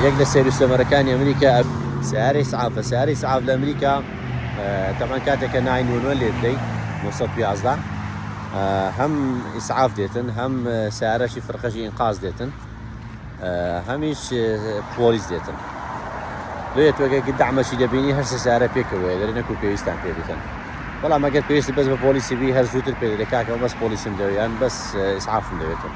یەک لە سەیر و سەمەرەکانی ئەمریکا ئەڤ. سیارە ئیسعافە، سیارە ئیسعاف لە ئەمریکا تەبعەن کاتێک کە ناین وەن وەن لێ بدەی نۆ سەد و یازدە هەم ئیسعاف دێتن هەم سیارەشی فرقەشی ئینقاز دێتن هەمیش پۆلیس دێتن لێ تۆگەکی دامەشی دەبینی هەر سیارە پێکەوەیە دەری نەکو پێویستان پێ بکەن بەڵام ئەگەر پێویست بەس بە پۆلیسی بی هەر زووتر پێ دەکاکەەوە بەس پۆلیسم دەوێیان بەس ئیسعافم دەوێتن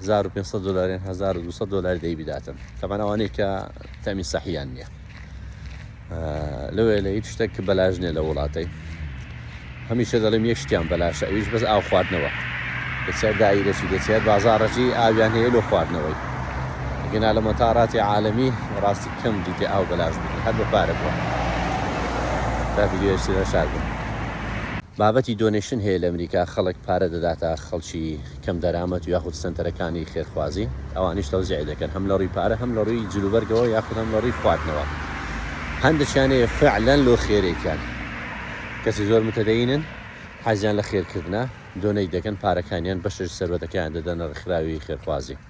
هەزار و پێنج سەد دۆلاریان هەزار و دوو سەد دۆلاری دەی بداتن تەمان ئەوانەی کە تامی سەحیان نییە لەوێ لە هیچ شتێک کە بەلاژ نیە لە وڵاتەی هەمیشە دەڵێم یەک شتیان بەلاشە ئەویش بەس ئاو خواردنەوە دەچێت دایرەچی دەچێت بازارڕەجی ئاویان هەیە لۆ خواردنەوەی گەنا لە مەتاراتی عاالمی ڕاستی کەم دیتێ ئاو بەلاش بگری هەر بە پارە بووە تا ویددیوشتە شار بوو بابەتی دۆنێشن هەیە لەمریکا خەڵک پارە دەداتە خەڵکی کەم دەرامەت و یاخود سەنتەرەکانی خێرخوازی ئەوانیش تەوزیعی دەکەن هەم لەڕوی پارە هەم لەڕوی جلوبەرگەوە یاخود هەم لەڕوی خواردنەوە هەندەکیان هەیە فعلەن لۆ خێرێکیان کەسی زۆر متەدەینن حەزیان لە خێرکردنە دۆنەیت دەکەن پارەکانیان بەشێش سەروەتەکەیان دەدەنە ڕێکخراوی خێرخوازی.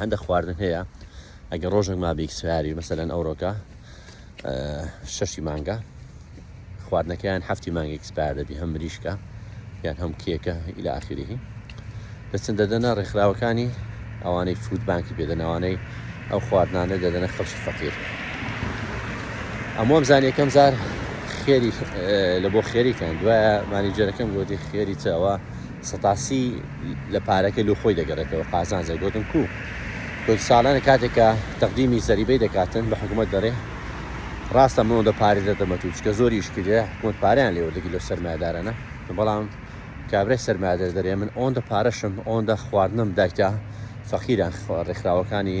هەندە خواردن هەیە ئەگە ڕۆژێک ما بیک سواری مەسەەن ئەوڕۆکە شەشی مانگە خواردنەکەیان هەفتی مانگی ئەکسپار دەبی هەم مریشکە یان هەم کێکە ئیلا ئاخیریهی دەچن دەدەنە ڕێکخراوەکانی ئەوانەی فود بانکی پێدەنەوانەی ئەو خواردنانە دەدەنە خەڵکی فەقیر ئەمۆم زانیەکەم زار خێری لە بۆ خێریتان دوایە مانیجەرەکەم گوتی خێری چاوە سەتاسی لە پارەکەی لۆ خۆی دەگەرێتەوە قازانجە گۆتم کوو کوردسالانە کاتێک کە تەقدیمی زەریبەی دەکاتن بە حکومەت دەرێ ڕاستە مۆ دە پارێ دە دەمەتو چکە زۆری شکرێ حکومەت پاریان لێوە دەگی لۆ سەرمایدارانە بەڵام کابرای سەرمایدەر دەرێ من ئۆن دە پارەشم ئۆن دە خواردنم دایکە فەقیران ڕێکخراوەکانی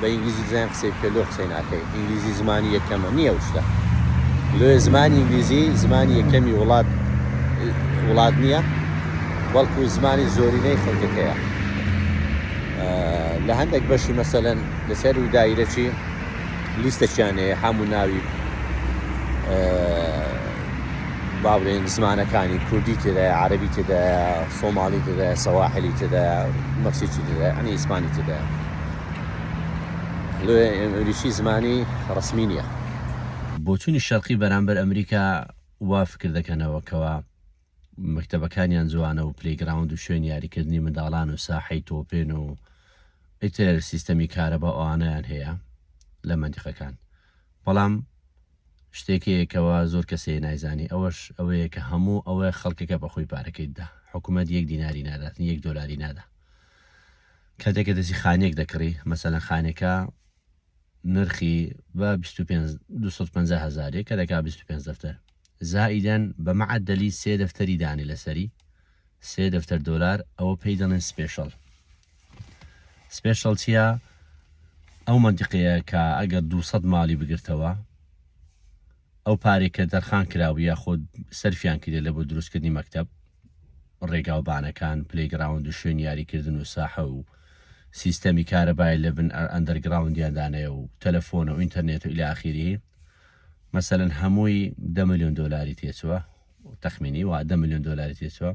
بە ئینگلیزی بزانین قسەی بکە لۆ قسەی ناکەی ئینگلیزی زمانی یەکەمە نییە شتە لۆ زمانی ئینگلیزی زمانی یەکەمی وڵات وڵات نییە بەڵکو زمانی زۆرینەی خەڵکەکەیە لە هەندێک بەشی مەسەلەن لەسەر و دایرەچی لیستەچیانەیە هەموو ناوی باڵێن زمانەکانی کوردی تێدایە عربی تێدایە سۆماڵی تێدایە سەواحلی تێدایە مەکسیی تێدایە ئەنی ئیسپانی تێدایە لۆیە ئینگلیسی زمانی ڕەسمی نیە. بۆچونی شەرقی بەرامبەر ئەمریکا وا فکر دەکەنەوە کەوا مەکتەبەکانیان جوانە و پلەی گراوند و شوێنی یاریکردنی منداڵان و ساحەی تۆپێن و ئیتر سیستەمی کارەبا ئەوانەیان هەیە لە مەنتیقەکان بەڵام شتێک هەیە کەوا زۆر کەسێ نایزانی ئەوەش ئەوەیە کە هەموو ئەوە خەڵکەکە بەخۆی پارەکەی دا حکومەت یەک دیناری نادات یەک دۆلاری نادا کاتێک کە دەستی خانیەک دەکڕی مەسەلەن خانەکە نرخی بە 25 هزارێک کە دەکا 25 دەفتەر زائیدەن بە مەعدەلی سێ دەفتەری دانی لەسەری سێ دەفتەر دۆلار ئەوە پێی دەڵێن سپێشڵ سپێشڵ چییە ئەو منتیقەیە کە ئەگەر 200 ماڵی بگرتەوە ئەو پارەی کە تەرخان کراو یاخود سەرفیان کردە لە بۆ دروستکردنی مەکتەب، ڕێگا و بانەکان، پلەی گراوند و شوێنی یاری کردن و ساحە و سیستەمی کارەبای لە بن ئەندەر گراوندیان دانێ و تەلەفۆن و ئینتەرنێت و الی اخیره مەسەلەن هەمووی دە ملیۆن دۆلاری تێچووە تەخمینی وا دە ملیۆن دۆلاری تێچووە.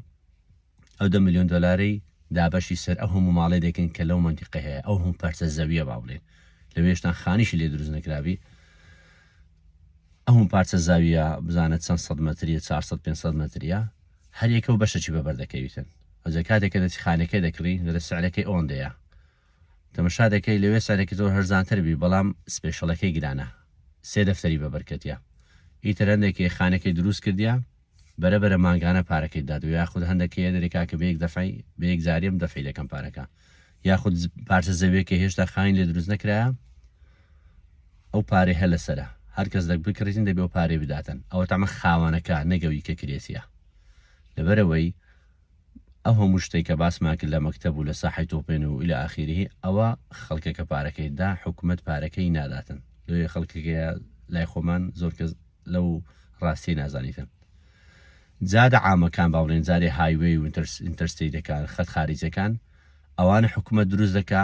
ئەو دە ملیۆن دۆلارەی دابەشی سەر ئەو هەموو ماڵەی دەکەین کە لەو مەنتیقەی هەیە، ئەو هەموو پارچە زەوییە با بڵێین، لەوێشتان خانیشی لێ دروست نەکرابی، ئەو هەموو پارچە زاوییە بزانە چەند سەد مەترییە، چوار سەد پێنج سەد مەترییە، هەر یەکە و بەشەکی بە بەر دەکەویتن. ئەوجا کاتێک کە دەچی خانەکەی دەکڕی، دەڵێ سعرەکەی ئەوەندەیە. تەمەشا دەکەی لەوێ سعرەکەی زۆر هەرزانتر بی، بەڵام سپێشەڵەکەی گرانە. سێ دەفتەری بە بەر کەتیە. ئیتر هەندێکی خانەکەی دروست کردیە، بەرە بەرە مانگانە پارەکەی دات و یاخود هەندە کەیە دەرێ کاکە بەیەک دەفعی بەیەک زاریم دەفعی دەکەم پارەکە یاخود پارچە زەوێکە هێشتا خاین لێ دروست نەکرایە ئەو پارێ هە لەسرە هەر کەس دەک بکڕیتن دەبێ و پارێ بداتن ئەوە تەمە خاوەنەکە نەگەوی کە کرێسیە لەبەرەوەی ئەو هەموو شتەی کە باسمان کرد لە مەکتەب و لە ساحەی تۆپێن و الی اخیره ئەوە خەڵکە کە پارەکەی دا حکومەت پارەکەی ناداتن لۆیە خەڵکەکەیە لای خۆمان زۆر کەس لەو ڕاستی نازانیتن جادە عامەکان باڵێن جارێ هایوێ و ئینتەرسیدەکان خەت خارجەکان ئەوانە حکومە دروست دەکا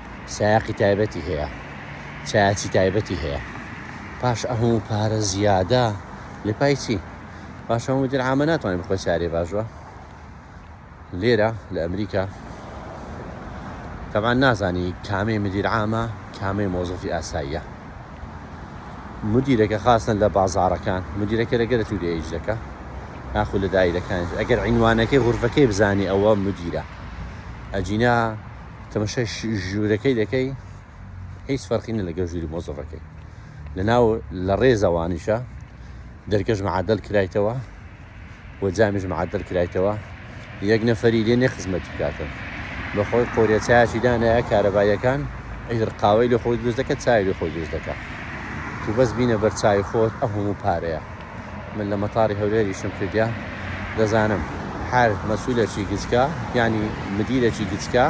سایەقی تایبەتی هەیە چایچی تایبەتی هەیە پاش ئەهو پارە زیادە لە پای چی پاش هەموو درعامە ناتوانین بخۆ چارێ باشوە لێرە لە ئەمریکا تەمان نازانی کامەی مدیرعامە کامەی مۆزەفی ئاساییە مدیرەکە خاستن لە بازارەکان مدیرەکە لەگەرە تو لێج دەکە ناخو لە دایرەکان ئەگەر عینوانەکەی غورفەکەی بزانانی ئەوە مدیرە ئەجینا تەمەشای ژوورەکەی دەکەی هیچ فەرقینە لەگەڵ ژووری مۆزەفەکەی لەناو لە ڕێزەوانیشە دەرکەش معادل کرایتەوە و جامیش معادل کرایتەوە یەک نەفەری لێ نێ خزمەت بکاتن بەخۆی قۆریە چایکی دانایە کارەبایەکان ئەیتر قاوەی لە خۆی دروست دەکە چای لە خۆی دروست دەکە تو بەس بینە بەرچوی خۆت ئە هەموو پارەیە من لە مەتاڕی هەولێر ئیشم کردیە دەزانم. هەر مەسولەکی گچکە یانی مدیرەکی گچکە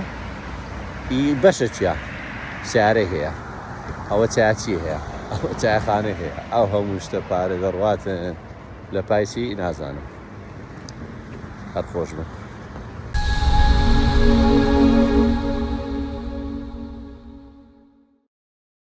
ی بەشە چیا سیارەی هەیە ئەوە چیا چی هەیە ئەوە چایەخانەی هەیە ئەو هەموو شتە پارە دەڕواتن لە پای چی نازانم هەر خۆش بن.